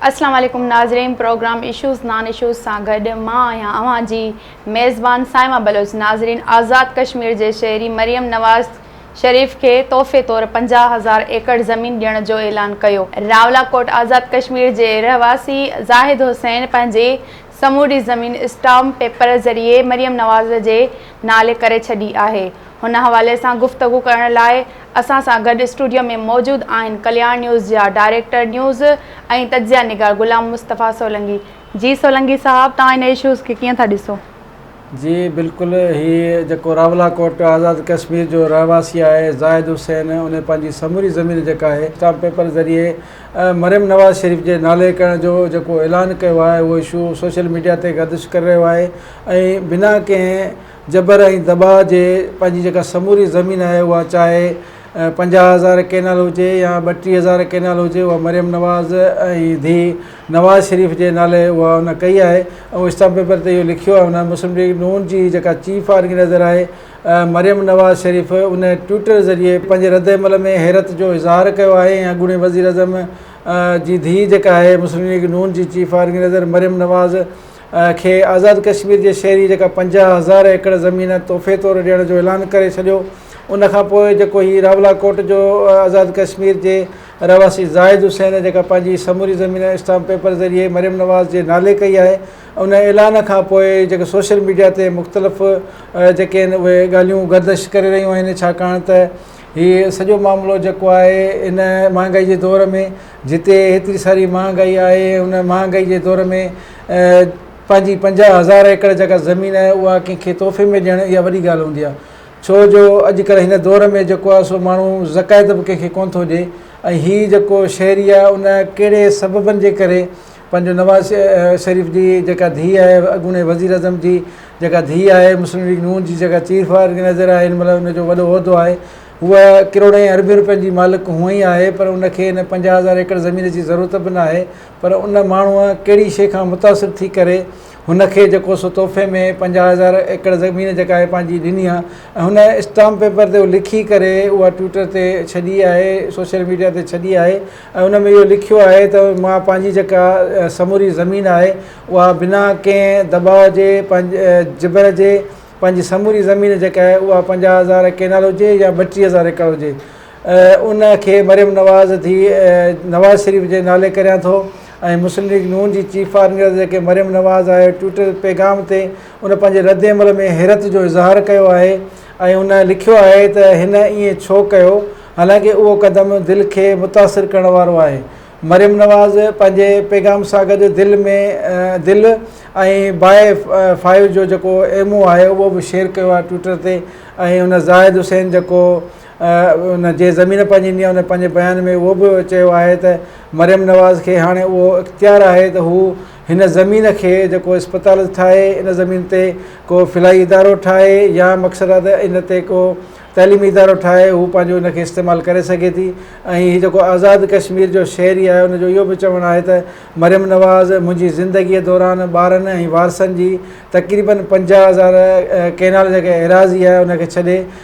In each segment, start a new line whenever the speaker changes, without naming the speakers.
اسلام عليڪم ناظرين پروگرام اشوز نان اشوز سان گڏ مان آهيان اوهان جي ميزبان صائمه بلوچ ناظرين آزاد ڪشمير جي شهري مريم نواز شريف کي تحفي طور پنجاهه هزار ايڪڙ زمين ڏيڻ جو اعلان ڪيو راولاڪوٽ آزاد ڪشمير جي رهواسي زاهد حسين پنهنجي سموري زمين اسٽامپ پيپر ذريعي مريم نواز جي نالي ڪري ڇڏي آهي. هن حوالي سان گفتگو ڪرڻ لاء اسان سان گڏ اسٽوڊيو ۾ موجود آهن ڪلياڻ نيوز جا ڊائريڪٽر نيوز ۽ تجزيه نگار غلام مصطفيٰ سولنگي. جي سولنگي صاحب توهان ان اشوز کي ڪيئن ٿا ڏسو؟ جي
بلڪل هي جيڪو راولا ڪوٽ آزاد ڪشمير جو رهواسي آهي زاهد حسين انهي پنهنجي سموري زمين جيڪا آهي اسٽامپ پيپر ذريعي مريم نواز شريف جي نالي ڪرڻ جو جيڪو اعلان ڪيو آهي اهو اشو سوشل ميڊيا تي گردش ڪري رهيو آهي ۽ بنا ڪنهن جبر ۽ دٻاء جي پنهنجي جيڪا سموري زمين آهي اها چاهي پنجاهه هزار ڪينال هجي يا ٻٽيهه هزار ڪينال هجي اها مريم نواز ۽ ڌيء نواز شريف جي نالي اها ان ڪئي آهي ۽ اسٽاف پيپر تي اهو لکيو آهي ان مسلم ليگ نون جي جيڪا چيف آرگنائيزر آهي مريم نواز شريف ان ٽوئيٽر ذريعي پنهنجي رد عمل ۾ حيرت جو اظهار ڪيو آهي ۽ اڳوڻي وزيراعظم جي ڌيء جيڪا آهي مسلم ليگ نون جي چيف آرگنائيزر مريم نواز کي آزاد ڪشمير جي شهري جيڪا پنجاهه هزار ايڪڙ زمين تحفي طور ڏيڻ جو اعلان ڪري ڇڏيو ان کانپوء جيڪو هي راولاڪوٽ جو آزاد ڪشمير جي رهواسي زاهد حسين جيڪا پنهنجي سموري زمين اسٽامپ پيپر ذريعي مريم نواز جي نالي ڪئي آهي ان اعلان کان پوء جيڪي سوشل ميڊيا تي مختلف جيڪي آهن اهي ڳالهيون گردش ڪري رهيون آهن ڇاڪاڻ ته هي سڄو معاملو جيڪو آهي ان مهانگائي جي دور ۾ جتي هيتري ساري مهانگائي آهي ان مهانگائي جي دور ۾ پنهنجي پنجاهه هزار ايڪڙ جيڪا زمين آهي اها ڪنهن کي تحفي ۾ ڏيڻ اها وڏي ڳالهه هوندي آهي ڇو جو اڄ ڪلهه هن دور ۾ جيڪو آهي سو ماڻهو زڪائت به ڪنهن کي ڪونه ٿو ڏي ۽ هي جيڪو شهري آهي ان ڪهڙي سببن جي ڪري پنهنجو نواز شريف جي جيڪا ڌيء آهي اڳوڻي وزيراعظم جي جيڪا ڌيء آهي مسلم ليگ نون جي جيڪا چيف آرگنائزر آهي هن مهل ان جو وڏو عهدو آهي هو ڪروڙين ۽ اربين روپين جي مالڪ هونء ئي آهي پر ان کي ان پنجاهه هزار ايڪڙ زمين جي ضرورت به ناهي پر ان ماڻهوء ڪهڙي شيء کان متاثر ٿي ڪري هن کي جيڪو سو تحفي ۾ پنجاهه هزار ايڪڙ زمين جيڪا هي پنهنجي ڏني آهي ۽ هن اسٽامپ پيپر تي لکي ڪري اها ٽوئٽر تي ڇڏي آهي سوشل ميڊيا تي ڇڏي آهي ۽ ان ۾ اهو لکيو آهي ته مان پنهنجي جيڪا سموري زمين آهي اها بنا ڪنهن دٻاء جي پنهنجي جبر جي پنهنجي سموري زمين جيڪا آهي اها پنجاهه هزار ڪينال هجي يا ٻٽيهه هزار ايڪڙ هجي ان کي مريم نواز ڌيء نواز شريف جي نالي ڪريان ٿو ۽ مسلم ليگ نون جي چيف آرگنائيزر جيڪي مريم نواز آهي ٽوئيٽر پيغام تي ان پنهنجي ردعمل ۾ حيرت جو اظهار ڪيو آهي ۽ ان لکيو آهي ته هن ائين ڇو ڪيو حالانڪ اهو قدم دل کي متاثر ڪرڻ وارو آهي مريم نواز پنهنجي پيغام سان گڏ دل ۾ دل ۽ باء فائيو جو جيڪو ايمو آهي اهو به شيئر ڪيو آهي ٽوئيٽر تي ۽ ان زاهد حسين جيڪو ان جي ضمير پنهنجي نيا ان پنهنجي بيان ۾ اهو به چيو آهي ته مريم نواز کي هاڻي اهو اختيار آهي ته هو هن زمين کي جيڪو اسپتال ٺاهي ان زمين تي ڪو فلاحي ادارو ٺاهي يا مقصد آهي ته ان تي ڪو تعليمي ادارو ٺاهي هو پنهنجو ان کي استعمال ڪري سگهي ٿي ۽ هي جيڪو آزاد ڪشمير جو شهري آهي ان جو اهو به چوڻ آهي ته مريم نواز منهنجي زندگي دوران ٻارن ۽ وارثن جي تقريبن پنجاهه هزار ڪينال جيڪا ايراضي آهي ان کي ڇڏي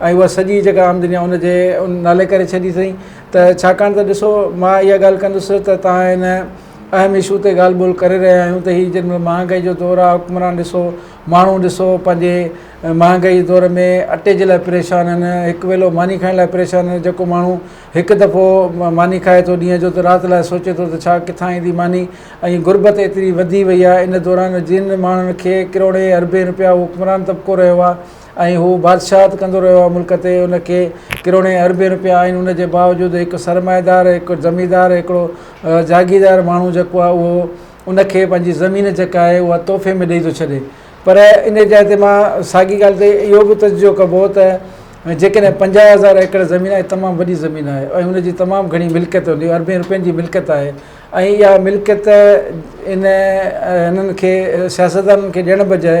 ۽ اها سڄي جيڪا عام دنيا ان جي ان نالي ڪري ڇڏي اٿئين ته ڇاڪاڻ ته ڏسو مان اها ڳالهه ڪندس ته توهان ان اهم اشو تي ڳالهه ٻولهه ڪري رهيا آهيون ته هي جن مهل مهانگائي جو دور آهي حڪمران ڏسو ماڻهو ڏسو پنهنجي مهانگائي جي دور ۾ اٽي جي لاء پريشان آهن هڪ ويلو ماني کائڻ لاء پريشان آهن جيڪو ماڻهو هڪ دفعو ماني کائي ٿو ڏينهن جو ته رات لاء سوچي ٿو ته ڇا ڪٿان ايندي ماني ۽ غربت ايتري وڌي وئي آهي ان دوران جن ماڻهن کي ڪروڙين اربين روپيا حڪمران طبقو رهيو آهي ۽ هو بادشاهت ڪندو رهيو آهي ملڪ تي ان کي ڪروڙين اربين روپيا آهن ان جي باوجود هڪ سرمائيدار هڪ زميندار هڪڙو جاگيردار ماڻهو جيڪو آهي اهو ان کي پنهنجي زمين جيڪا آهي اها تحفي ۾ ڏئي ٿو ڇڏي پر ان جاء تي مان ساڳي ڳالهه تي اهو به تجزيو ڪبو ته جيڪڏهن پنجاهه هزار ايڪڙ زمين آهي تمام وڏي زمين آهي ۽ ان جي تمام گهڻي ملڪيت هوندي اربين روپين جي ملڪيت آهي ۽ اها ملڪيت ان انهن کي سياستدانن کي ڏيڻ بجاء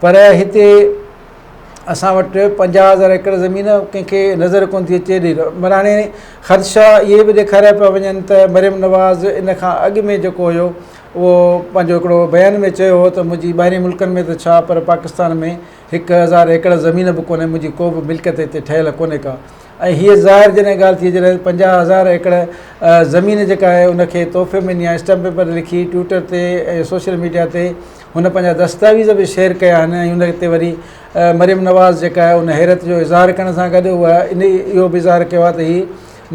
پر هتي اسان وٽ پنجاهه هزار ايڪڙ زمين ڪنهن کي نظر ڪونه ٿي اچي ايڏي معني هاڻي خدشا اهي به ڏيکاريا پيا وڃن ته مريم نواز ان کان اڳ ۾ جيڪو هيو اهو پنهنجو هڪڙو بيان ۾ چيو هو ته منهنجي ٻاهرين ملڪن ۾ ته ڇا پر پاڪستان ۾ هڪ هزار ايڪڙ زمين به ڪونهي منهنجي ڪو به ملڪيت هتي ٺهيل ڪونهي ڪا ۽ هيء ظاهر جڏهن ڳالهه ٿي جڏهن پنجاهه هزار ايڪڙ زمين جيڪا آهي ان کي تحفي ۾ ڏيان اسٽمپ پيپر لکي ٽوئٽر تي ۽ سوشل ميڊيا تي هن پنهنجا دستاويز به شيئر ڪيا آهن ۽ ان تي وري مريم نواز جيڪا آهي ان حيرت جو اظهار ڪرڻ سان گڏ اها انهي اهو به اظهار ڪيو آهي ته هي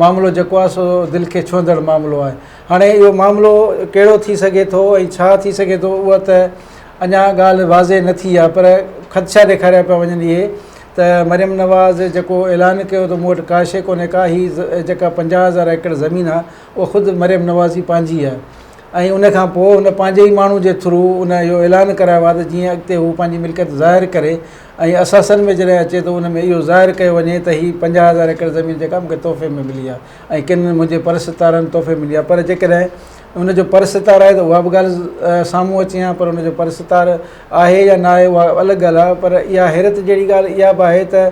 معاملو جيڪو آهي سو دل کي ڇهندڙ معاملو آهي هاڻي اهو معاملو ڪهڙو ٿي سگهي ٿو ۽ ڇا ٿي سگهي ٿو اها ته اڃا ڳالهه واضح نه ٿي آهي پر خدشا ڏيکاريا پيا وڃن اهي ته مريم نواز جيڪو اعلان ڪيو ته مون وٽ ڪا شيء ڪونهي ڪا هي جيڪا پنجاهه هزار ايڪڙ زمين آهي اها خود مريم نواز ئي پنهنجي آهي ۽ ان کان پوء هن پنهنجي ئي ماڻهو جي ٿرو ان اهو اعلان ڪرايو آهي ته جيئن اڳتي هو پنهنجي ملڪيت ظاهر ڪري ۽ اثاثن ۾ جڏهن اچي ته ان ۾ اهو ظاهر ڪيو وڃي ته هي پنجاهه هزار ايڪڙ زمين جيڪا مون کي تحفي ۾ ملي آهي ۽ ڪن منهنجي پرستارن تحفي ملي آهي پر جيڪڏهن ان جو پرستار آهي ته اها به ڳالهه سامهون اچي هان پر ان جو پرستار آهي يا ناهي اها الڳ ڳالهه آهي پر اها حيرت جهڙي ڳالهه اها به آهي ته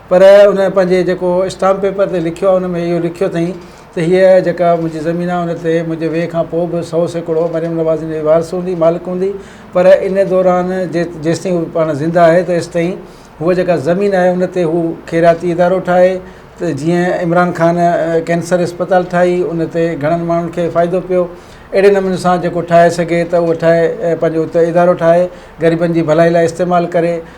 پر ان پنهنجي جيڪو اسٽامپ پيپر تي لکيو آهي ان ۾ اهو لکيو اٿئي ته هيء جيڪا منهنجي زمين آهي ان تي منهنجي ويهه کان پوء به سؤ سيڪڙو مريم نواز جي وارث هوندي مالڪ هوندي پر ان دوران جيستائين هو پاڻ زنده آهي تيستائين هوء جيڪا زمين آهي ان تي هو خيراتي ادارو ٺاهي ته جيئن عمران خان ڪينسر اسپتال ٺاهي ان تي گهڻن ماڻهن کي فائدو پيو اهڙي نموني سان جيڪو ٺاهي سگهي ته اهو ٺاهي پنهنجو ادارو ٺاهي غريبن جي ڀلائي لاء استعمال ڪري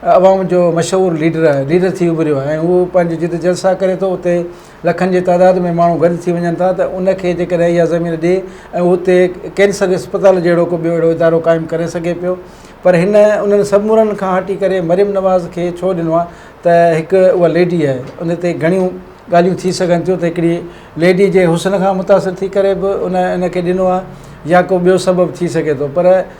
عوام جو مشهور ليڊر آهي ليڊر ٿي اڀريو آهي ۽ اهو پنهنجي جتي جلسا ڪري ٿو اتي لکن جي تعداد ۾ ماڻهو گڏ ٿي وڃن ٿا ته ان کي جي ڪڏهن اها زمين ڏي ۽ اتي ڪينسر اسپتال جهڙو ڪو ٻيو اهڙو ادارو قائم ڪري سگهي پيو پر هن انهن سمورن کان هٽي ڪري مريم نواز کي ڇو ڏنو آهي ته هڪ اها ليڊي آهي ان تي گهڻيون ڳالهيون ٿي سگهن ٿيون ته هڪڙي ليڊي جي حسن کان متاثر ٿي ڪري به ان ان کي ڏنو آهي يا ڪو ٻيو سبب ٿي سگهي ٿو پر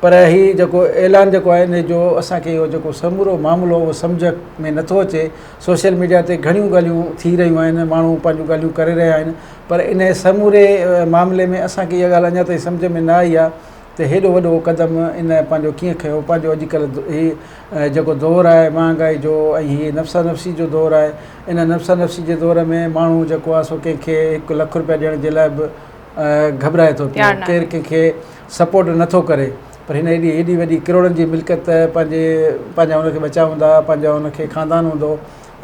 پر هي جيڪو اعلان جيڪو آهي ان جو اسان کي اهو جيڪو سمورو معاملو اهو سمجهه ۾ نٿو اچي سوشل ميڊيا تي گهڻيون ڳالهيون ٿي رهيون آهن ماڻهو پنهنجون ڳالهيون ڪري رهيا آهن پر ان سموري معاملي ۾ اسان کي اها ڳالهه اڃا تائين سمجهه ۾ نه آئي آهي ته هيڏو وڏو قدم ان پنهنجو ڪيئن کيو پنهنجو اڄ ڪلهه هي جيڪو دور آهي مهانگائي جو ۽ هي نفسا نفسي جو دور آهي ان نفسا نفسي جي دور ۾ ماڻهو جيڪو آهي سو ڪنهن کي هڪ لک روپيا ڏيڻ جي لاء به گهٻرائي ٿو پيو ڪير ڪنهن کي سپورٽ نه ٿو ڪري پر هن ايڏي ايڏي وڏي ڪروڙن جي ملڪيت پنهنجي پنهنجا هن کي ٻچا هوندا پنهنجا هن کي خاندان هوندو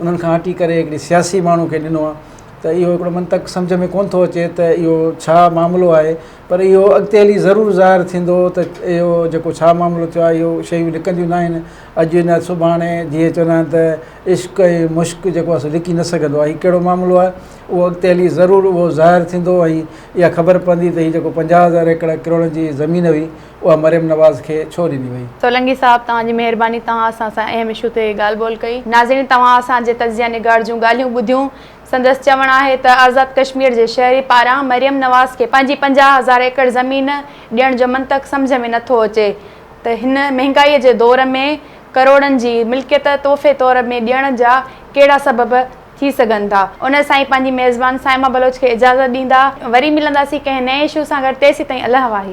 انهن کان هٽي ڪري هڪڙي سياسي ماڻهو کي ڏنو آهي ته اهو هڪڙو منطق سمجهه ۾ ڪونه ٿو اچي ته اهو ڇا معاملو آهي پر اهو اڳتي هلي ضرور ظاهر ٿيندو ته اهو جيڪو ڇا معاملو ٿيو آهي اهو شيون لڪنديون ناهن اڄ نه سڀاڻي جيئن چوندا آهن ته عشق ۽ مشڪ جيڪو آهي سو لڪي نه سگهندو آهي هي ڪهڙو معاملو آهي اهو اڳتي هلي ضرور اهو ظاهر ٿيندو ۽ اها خبر پوندي ته هي جيڪو پنجاهه هزار ايڪڙ ڪروڙن جي زمين هئي اها مريم نواز کي ڇو ڏني وئي. سولنگي صاحب توهان جي
مهرباني توهان اسان سان اهم اشو تي ڳالهه ٻولهه ڪئي. ناظرين توهان اسان جي تجزيه نگار جون ڳالهيون ٻڌيون. سندس چوڻ آهي ته آزاد ڪشمير جي شهرين پاران مريم نواز کي پنهنجي پنجاهه هزار ايڪڙ زمين ڏيڻ جو منطق سمجهه ۾ نٿو اچي ته هن مهنگائي جي دور ۾ ڪروڙن جي ملڪيت تحفي طور ۾ ڏيڻ جا ڪهڙا سبب ٿي سگهن ٿا. ان سان ئي پنهنجي ميزبان صائمه بلوچ کي اجازت ڏيندا. وري ملنداسين ڪنهن نئين اشو سان گڏ تيسين تائين الهه واهي.